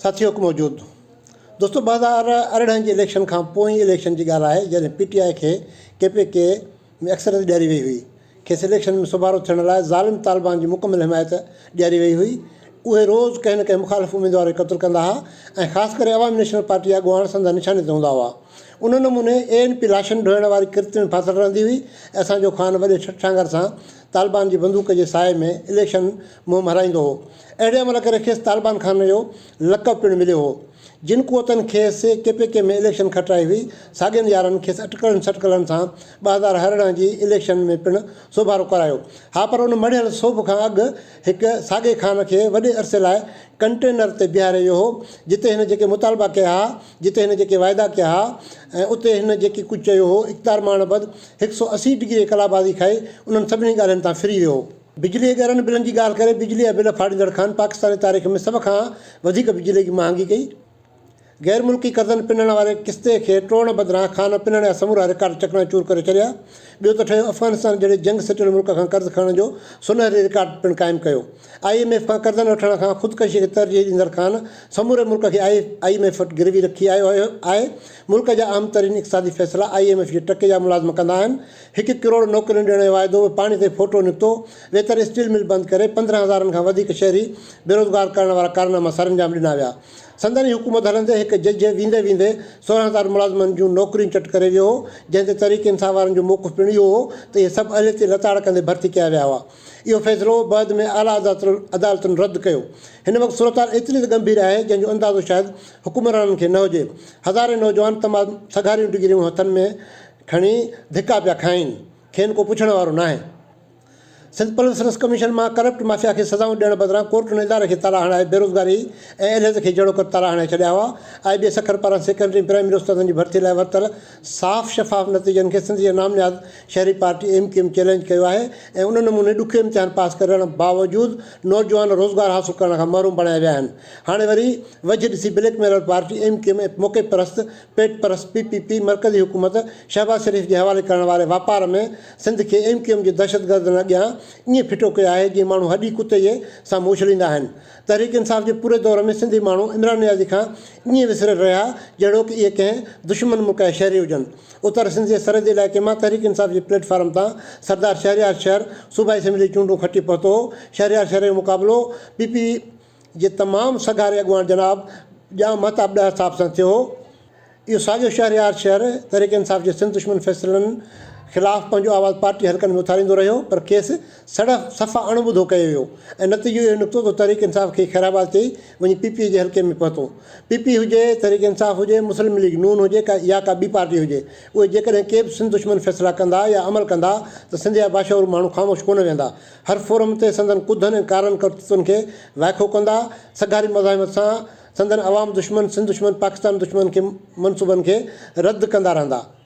ساٿي حڪم وجود دوستو ٻه هزار ارڙهن جي اليڪشن کان پوئين اليڪشن جي ڳالهه آهي جڏهن پي ٽي آء کي ڪي پي ڪي ۾ اڪثريت ڏياري وئي هئي کيس اليڪشن ۾ سوڀارو ٿيڻ لاء ظالم طالبان جي مڪمل حمايت ڏياري وئي هئي اهي روز ڪنهن نه ڪنهن مخالف اميدوار کي قتل ڪندا ها ۽ خاص ڪري عوامي نيشنل پارٽي اڳواڻ سندن نشاني تي هوندا هئا ان نموني اي اين پي لاشن ڍوئڻ واري ڪرت ۾ ڦاٿل رهندي هئي ۽ اسان جو خان وڏي ٺٺانگر سان طالبان جي بندوق جي سايي ۾ اليڪشن منهن مهرايندو هو. اهڙي عمل ڪري کيس طالبان خان جو لقب پڻ مليو هو. جن قوتن کيس ڪي پي ڪي ۾ اليڪشن کٽرائي هئي، ساڳين يارن کيس اٽڪلن سٽڪلن سان ٻه هزار ارڙهن جي اليڪشن ۾ پڻ سوڀارو ڪرايو. ها پر ان مڙهيل سوڀ کان اڳ هڪ ساڳئي خان کي وڏي عرصي لاء ڪنٽينر تي بيهاري ويو هو. جتي هن جيڪي مطالبا ڪيا ها، جتي هن جيڪي وعدا ڪيا ها ۽ اتي هن جيڪي ڪجهه چيو هو، اقتدار مان اڻ بد هڪ سؤ اسي ڊگري ڪلابازي کائي انهن سڀني ڳالهين تان ڦري ويو هو. بجلي جي ڳرن بلن جي ڳالهه ڪري بجلي جا بل ڦاڙيندڙ خان پاڪستان جي تاريخ ۾ سڀ کان وڌيڪ بجلي جي مهانگي ڪئي. غير ملڪي قرضن پنڻ واري قسطي کي ٽوڙڻ بدران خان پنڻ جا سمورا رڪارڊ چڪنا چور ڪري ڇڏيا. ٻيو ته ٺهيو افغانستان جهڙي جنگ سٽيل ملڪ کان قرض کڻڻ جو سونهري رڪارڊ پڻ قائم ڪيو. آء ايم ايف کان قرضن وٺڻ کان خودڪشي کي ترجيح ڏيندڙ خان سموري ملڪ کي آء ايم ايف وٽ گروي رکي آيو آهي. ملڪ جا اهم ترين اقتصادي فيصلا آء ايم ايف جي ٽڪي جا ملازم ڪندا آهن. هڪ ڪروڙ نوڪرين ڏيڻ جو واعدو به پاڻي تي ڦوٽو نڪتو، ويتر اسٽيل مل بند ڪري پندرهن هزارن کان وڌيڪ شهري بيروزگار ڪرڻ وارا ڪارناما سرانجام ڏنا ويا. سندن ئي حڪومت هلندي هڪ جج ويندي ويندي سورهن هزار ملازمن جون نوڪريون چٽ ڪري ويو هو، جنهن تي تحريڪ انصاف وارن جو موقف پڻ اهو هو ته اهي سڀ اهليتي لتاڙ ڪندي ڀرتي ڪيا ويا هئا. اهو فيصلو بعد ۾ اعليٰ عدالتن رد ڪيو. هن وقت صورتحال ايتري ته ڳنڀير آهي جنهن جو اندازو شايد حڪمرانن کي نه هجي. هزارين نوجوان تمام سگهاريون ڊگريون هٿن ۾ کڻي ڌڪا پيا کائين، کين ڪو پڇڻ وارو ناهي. سنڌ پبلڪ سروس ڪميشن مان ڪرپٽ مافيا کي سزائون ڏيڻ بدران ڪورٽن اداري کي تالا هڻائي بيروزگاري ۽ اليهدي کي جهڙوڪر تالا هڻائي ڇڏيا هئا، آء بي سکر پاران سيڪنڊري ۽ پرائمري استادن جي ڀرتي لاء ورتل صاف شفاف نتيجن کي سنڌ جي نامنهاد شهري پارٽي ايم ڪيو ايم چئلينج ڪيو آهي ۽ ان نموني ڏکيو امتحان پاس ڪرڻ باوجود نوجوان روزگار حاصل ڪرڻ کان محروم بڻايا ويا آهن هاڻي وري وجهه ڏسي blackmailer party M Q M موقعي پرست پيٽ پرست پي پي پي مرڪزي حڪومت شهباز شريف جي حوالي ڪرڻ واري واپار ۾ سنڌ کي ايم ڪيو ايم جي دهشتگردن اڳيان ائين ڦٽو ڪيو آهي جيئن ماڻهو هڏي ڪتي جي سامهون اڇليندا آهن. تحريڪ انصاف جي پوري دور ۾ سنڌي ماڻهو عمران نيازي کان ائين وسريل رهيا جهڙوڪ اهي ڪنهن دشمن ملڪ جا شهري هجن. اتر سنڌ جي سرحدي علائقي مان تحريڪ انصاف جي پليٽ فارم تان سردار شهريار شهر صوبائي اسيمبلي جي چونڊون کٽي پهتو هو. شهريار شهر جو مقابلو پي پي جي تمام سگهاري اڳواڻ جناب ڄام مهتاب ڏاهر صاحب سان ٿيو هو. اهو ساڳيو شهريار شهر تحريڪ انصاف جي سنڌ دشمن فيصلن خلاف پنهنجو آواز پارٽي حلقن ۾ اٿاريندو رهيو پر کيس سڙ صفا اڻ ٻڌو ڪيو ويو ۽ نتيجو اهو نڪتو ته تحريڪ انصاف کي خيرآباد چئي وڃي پي پي جي حلقي ۾ پهتو. پي پي هجي، تحريڪ انصاف هجي، مسلم ليگ نون هجي يا ڪا ٻي پارٽي هجي اهي جيڪڏهن ڪي به سنڌ دشمن فيصلا ڪندا يا عمل ڪندا ته سنڌ جا باشعور ماڻهو خاموش ڪونه ويهندا. هر فورم تي سندن ڪڌن ۽ ڪارن ڪرتوتن کي وائکو ڪندا، سگهاري مزاحمت سان سندن عوام دشمن، سنڌ دشمن، پاڪستان دشمن کي منصوبن کي رد ڪندا رهندا.